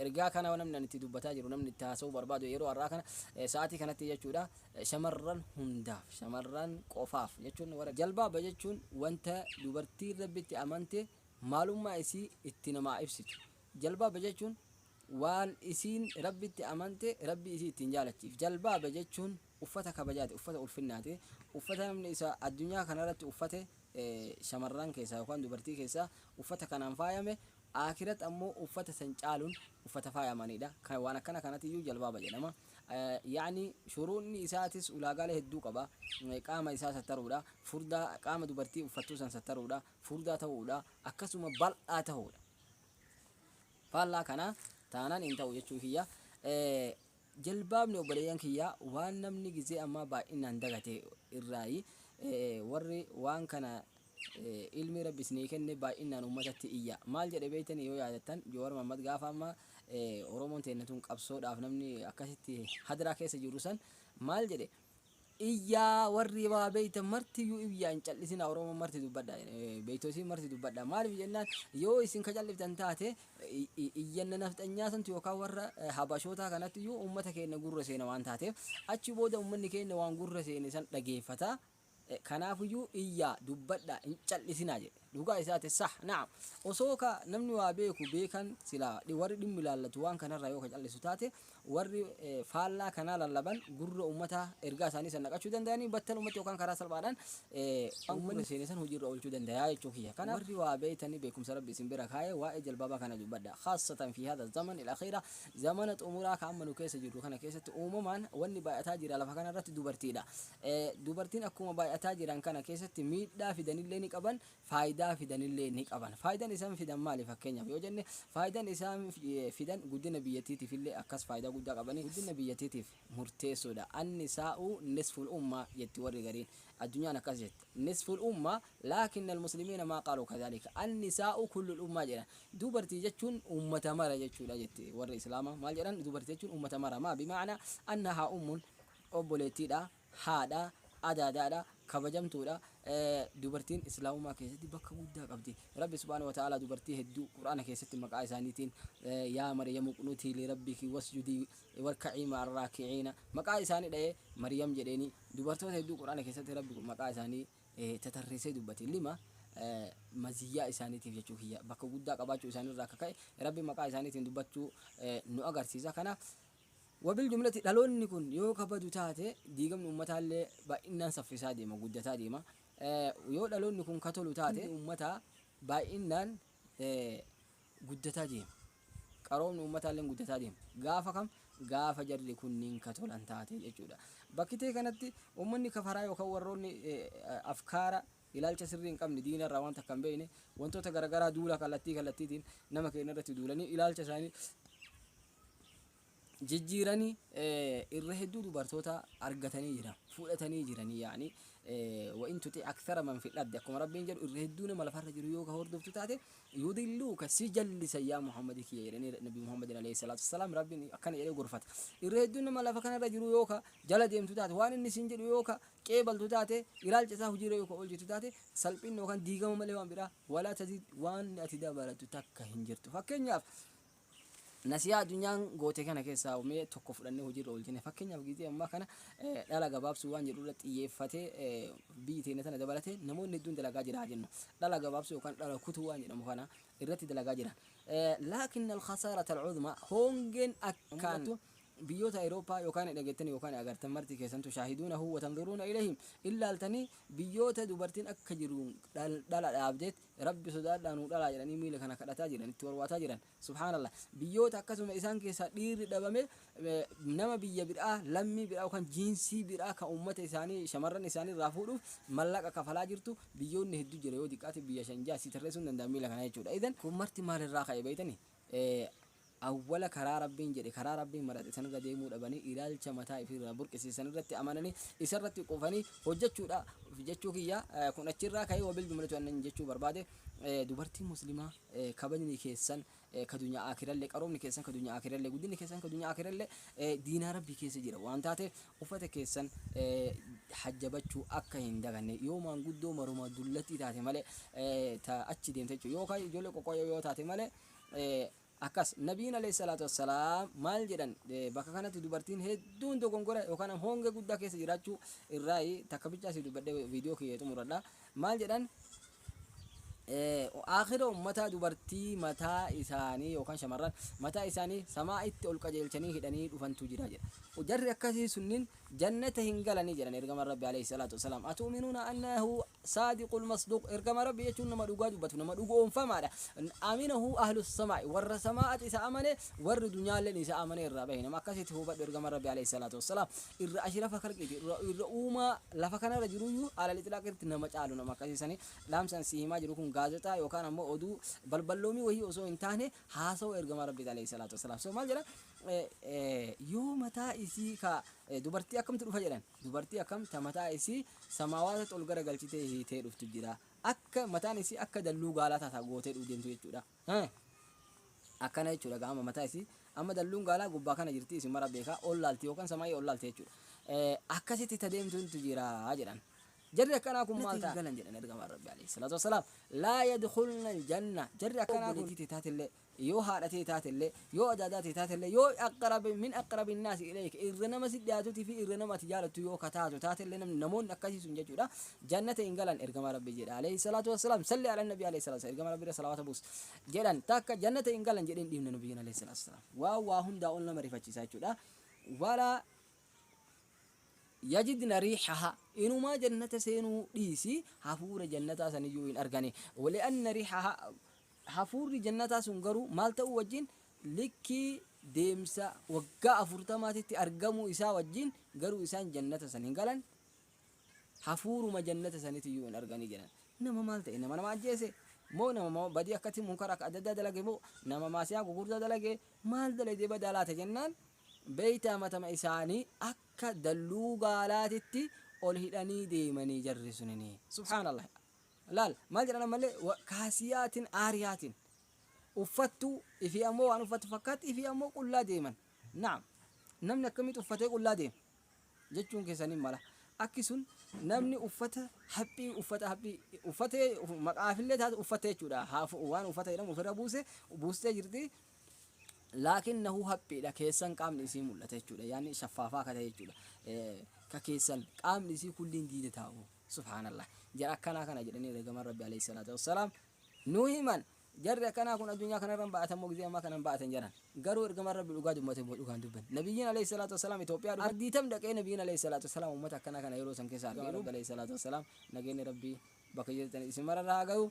Ergaa kana namni ani itti dubbataa jiru, namni itti haasa'uu barbaadu yeroo har'aa kana sa'aatii kanatti jechuudha shamarran hundaaf, shamarran qofaaf jechuun warra jalbaaba jechuun wanta dubartiin Rabbitti amante maalummaa isii itti namaa ibsitu. Jalbaaba jechuun waan isiin Rabbitti amante Rabbii isii ittiin jaalachiif. Jalbaaba jechuun uffata kabajaati, uffata ulfinnaati, uffata namni isa addunyaa kanarratti uffate shamarran keessaa yookaan dubartii keessaa uffata kanaan faayame Aakhirat ammoo uffata san caalun uffata faayamaniidha. Kan waan akkana kanatiyyuu jalbaaba jedhama. Ya'ni shuruuxni isaatis ulaagaalee hedduu qaba. Qaama isaa sattaruudha. Furdaa qaama dubartii uffattuu san sattaruudha. Furdaa ta'uudha. Akkasuma bal'aa ta'uudha. Faallaa kanaa taanaan hin ta'u jechuu kiyya. Jalbaabni obboleeyyan kiyya waan namni gizee ammaa baay'inaan dagate irraayi warri waan kana ilmi rabbi isinii kenne baay'innaan uummatatti iyya. Maal jedhe beektanii yoo yaadattan Jowar Mahammad gaafa amma Oromoon teenna tun qabsoodhaaf namni akkasitti hadiraa keessa jirru san maal jedhe iyyaa warri waa beeytan martiyyuu iyyaa hin callisinaa Oromoon marti dubbadha beeytosiin marti dubbadha maaliif jennaan yoo isin ka calliftan taate iyyanna nafxanyaa santu yookaan warra habashootaa kanatti iyyuu uummata keenna gurra seena waan taateef achi booda uummanni keenna waan gurra seene san dhageeffataa Kanaafuyyuu iyyaa, dubbadhaa, hin cal'isinaa jedhe. Dhugaa isaati, sah, na'am. Osoo ka namni waa beeku beekan silaa warri dhimmi ilaallatu waan kanarraa yoo ka cal'isu taate warri faallaa kanaa lallaban gurra ummataa ergaa isaanii san naqachuu dandayanii battalumatti yookaan karaa salphaadhaan waan gurra seene san hojiirra oolchuu dandayaa jechuu kiyya. Kanaaf warri waa beeytanii beekumsa Rabbi isin bira kaaye waa'ee jalbaabaa kana dubbadhaa. Khaassatan fii haadha zaman al-akhiira zamana xumuraa ka amma nu keessa jirru kana keessatti uumamaan wanni baay'ataa jira lafa kanarratti dubartiidha. Dubartiin akkuma baay'ataa jiran kana keessatti miidhaa fidanillee ni qaban, faayidaa fidanillee ni qaban. Faayidan isaan fidan maali fakkeenyaaf yoo jenne faayidan isaan fidan guddina biyyattiitiifillee akkas faayidaa guddaa qabanii guddina biyyattiitiif murteessoodha. Annisaa'u nisful ummaa jetti warri gariin. Addunyaan akkas jetti. Nisful ummaa laakinnal muslimiina maa qaaluu kadhaalika. Annisaa'u kullul ummaa jedhan. Dubartii jechuun ummata mara jechuudha jetti warri Islaamaa. Maal jedhan dubartii jechuun ummata mara. Maa bimaana annahaa ummun obboleettiidha, haadha, adaadaadha, kabajamtuudha, dubartiin islaamummaa keessatti bakka guddaa qabdi. Rabbi subhaanahu wa ta'aalaa dubartii hedduu Qur'aana keessatti maqaa isaaniitiin yaa Maryamu qunutii li rabbiki wasjudii warka'ii ma'ar raaki'iina maqaa isaanii dha'ee Maryam jedheeni dubartoota hedduu Qur'aana keessatti Rabbi maqaa isaanii tatarreessee dubbate lima maziyyaa isaaniitiif jechuu kiyya bakka guddaa qabaachuu isaanii irraa akka ka'e Rabbi maqaa isaaniitiin dubbachuu nu agarsiisa kanaaf Wabil jumlati dhaloonni kun yoo ka badu taate diigamni ummataallee baay'innaan saffisaa deema, guddataa deema. Yoo dhaloonni kun ka tolu taate diigamni ummataa baay'innaan guddataa deema. Qaroomni ummataalleen guddataa deema. Gaafa kam? Gaafa jarri kunniin ka tolan taate jechuudha. Bakkitee kanatti ummanni kafaraa yookaan warroonni afkaara ilaalcha sirrii hin qabne diina irraa waan takka hin beekne wantoota garagaraa duula kallattii kallattiitiin nama keenya irratti duulanii ilaalcha isaanii jijjiiranii irra hedduu dubartoota argatanii jiran fudhatanii jiranii yaani wa'in tuti aksara man fidhabde akkuma rabbiin jedhu irra hedduu nama lafarra jiru yoo ka hordoftu taate yudilluu ka si jallisa yaa muhammadi kiyya jedhanii nabi muhammadin alayhi salaatu wasalaam rabbiin akkana jedhee gorfata irra hedduu nama lafa kanarra jiru yoo ka jala deemtu taate waan inni siin jedhu yoo ka qeebaltu taate ilaalcha isaa hojiirra yoo ka oolchitu taate salphinni yookaan diigama malee waan biraa walaa tazid waan ati dabalatu takka hin jirtu fakkeenyaaf Nasihaa adunyaan goote kana keessaa mee tokko fudhannee hojiirra oolchine. Fakkeenyaaf giizii ammaa kana dhala gabaabsuu waan jedhu irratti xiyyeeffatee biyyi teenya tana dabalatee namoonni hedduun dalagaa jira haa jennu. Dhala gabaabsuu yookaan dhala kutuu waan jedhamu kana irratti dalagaa jira. Laakin al-khasaara tal-cudma hoongeen akkaan biyyoota Awurooppaa yookaan dhageettan yookaan agartan marti keessantu shaahiduuna huwa tanzuruuna ilahim illaaltanii biyyoota dubartiin akka jiru dhala dhaabdeet Rabbi sodaadhaa nuu dhalaa jedhanii miila kana kadhataa jiran itti warwaataa jiran subhaanallah biyyoota akkasuma isaan keessaa dhiirri dhabame nama biyya biraa lammii biraa yookaan jiinsii biraa kan uummata isaanii shamarran isaanii irraa fuudhuuf mallaqa kafalaa jirtu biyyoonni hedduu jira yoo diqqaate biyya shan jaha si tarreessuun danda'a miila kana jechuudha idan kun marti maalirraa ka'e beeytanii Awwala karaa Rabbiin jedhe, karaa Rabbiin marate sanirra deemuu dhabanii ilaalcha mataa ifii irraa burqise sanirratti amananii isarratti qufanii hojjachuudha jechuu kiyya. Kun achirraa ka'ee wabiljumlati wannin jechuu barbaade dubartii muslimaa kabajni keessan ka dunya aakiralle qaroomni keessan ka dunya aakiralle guddinni keessan ka dunya aakiralle diinaa Rabbii keessa jira waan taateef uffata keessan hajjabachuu akka hin daganne yoo maanguddoo maruma dullattii taate malee ta achi deemte jechuu yoo ka ijoollee qoqqoyoo yoo taate malee Akkas, Nabiin alayhi salaatu wassalaam maal jedhan bakka kanatti dubartiin hedduun dogongora yookaan hoonge guddaa keessa jiraachuu irraayi takka bichaa si dubbadhe viidiyoo kiyya xumuradha. Maal jedhan aakhira ummataa dubartii mataa isaanii yookaan shamarran mataa isaanii samaa itti ol qajeelchanii hidhanii dhufantu jira jedha. Jarri akkasii sunniin jannata hin galanii jedhan ergamaan Rabbi alayhi salaatu wassalaam. Atu'minuuna annahu saadiqul masduuq, ergamaa Rabbii jechuun nama dhugaa dubbatu, nama dhugo'oomfamaadha. aminahu ahlus samaa'i, warra sama'aati isa amane, warri dunyaalleen isa amanee irraa bahe. Nama akkasiiti hubadhu ergamaan Rabbii aleeyhi salaatu wassalaam irra ashrafa kalqiiti, irra irra uumaa lafa kanarra jiruyyuu alal itlaaq irratti nama caalu nama akkasii sani. Dhaamsa an sii himaa jiru kun gaazexaa yookaan ammoo oduu balballoomii wahii osoo hin taane haasawa ergamaa Rabbiiti aleeyhi salaatu wassalaam. So maal jedha? Yoo mataa isii ka dubartii akkamtu dhufa jedhan? Dubartii akkam ta mataa isii samaawaatatti ol gara galchitee hiitee dhuftu jira. Akka mataan isii akka dalluu gaalaa taataa gootee dhuu deemtu jechuudha. Hee? Akkana jechuudha gaa amma mataa isii amma dalluun gaalaa gubbaa kana jirti isin mara beekaa ol laalti yookaan samaayii ol laalti jechuudha. Eh, Akkasitti ta deemtutu jira jedhan. Jarri akkanaa kun maal ta'a? galan jedhan ergamaan Rabbi alayhi salaatu wassalaam. Laa yadkhulna aljanna. Jarri akkanaa kun obboleettii tee taatellee Yoo haadha tee taatellee, yoo adaadaa tee taatellee, yoo aqrab, min aqrabi nnaasi ilayka, irra nama sitti dhiyaatuutii fi irra nama ati jaalattu yoo ka taatu taatellee namni, namoonni akkasii sun jechuudha, jannata hin galan Ergamaa Rabbii jedha alayhi salaatu wassalaam, salli ala nabii alayhi salaatu wassalaam, Ergamaa Rabbii irra salawaata buusi. jedhan takka jannata hin galan jedhee hin dhiifne Nabiyyiin alayhi salaatu wassalaam. Waan waa hundaa ol nama rifachiisa jechuudha. Walaa yajidna riihahaa inumaa jannata seenuu dhiisi hafuura jannataa saniyyuu hin argani. Wali'anna riihahaa Hafuurri jannataa sun garuu maal ta'uu wajjin? Likkii deemsa waggaa afurtamaatitti argamuu isaa wajjin garuu isaan jannata san hin galan, hafuuruma jannata sanitiyyuu hin arganii jedhan. Nama maal ta'e? Nama nama ajjeese? Moo nama badii akkatti munkara akka adda addaa dalage moo nama maasiyaa gugurdaa dalage? Maal dalagee badaa laata jennaan beeytaa matama isaanii akka dalluu gaalaatitti ol hidhanii deemanii jarri sunini. Subhaanallah. Laal, maal jedhan ammallee, wa kaasiyaatin aariyaatin. Uffattuu, ifii ammoo waan uffattu fakkaatti, ifii ammoo qullaa deeman. Naam, namni akkamitti uffatee qullaa deema? Jechuun keessan hin mala. Akki sun namni uffata haphii, uffata haphii, uffatee, uf- maqaafillee taate uffatte jechuudha. Haaf- Waan uffata jedhamu ofirra buuse, buustee jirti. Laakiin nahu haphiidha keessan qaamni isii mul'ata jechuudha. Yaanni shaffaafaa akka ta'e jechuudha. Eh, Ka keessan qaamni isii kulliin diida taa'u. Subhaanallah. Jara akkanaa kana jedhanii Ergamaan Rabbii Aleyhi Salaatu Wassalaam nu himan. Jarri akkanaa kun addunyaa kanarra hin ba'atan moo gizee ammaa kana hin ba'atan jedhan. Garuu Ergamaan Rabbii dhugaa dubbate moo dhugaa hin dubbanne. Nabiyyiin Aleyhi Salaatu Wassalaam Itoophiyaa dhufe. Ardii tam dhaqee Nabiyyiin Aleyhi Salaatu Wassalaam ummata akkanaa kana yeroo san keessa arge. Ergamaan Rabbii Aleyhi Salaatu Wassalaam nageenni Rabbii bakka jirtanitti isin mararra haa gahu.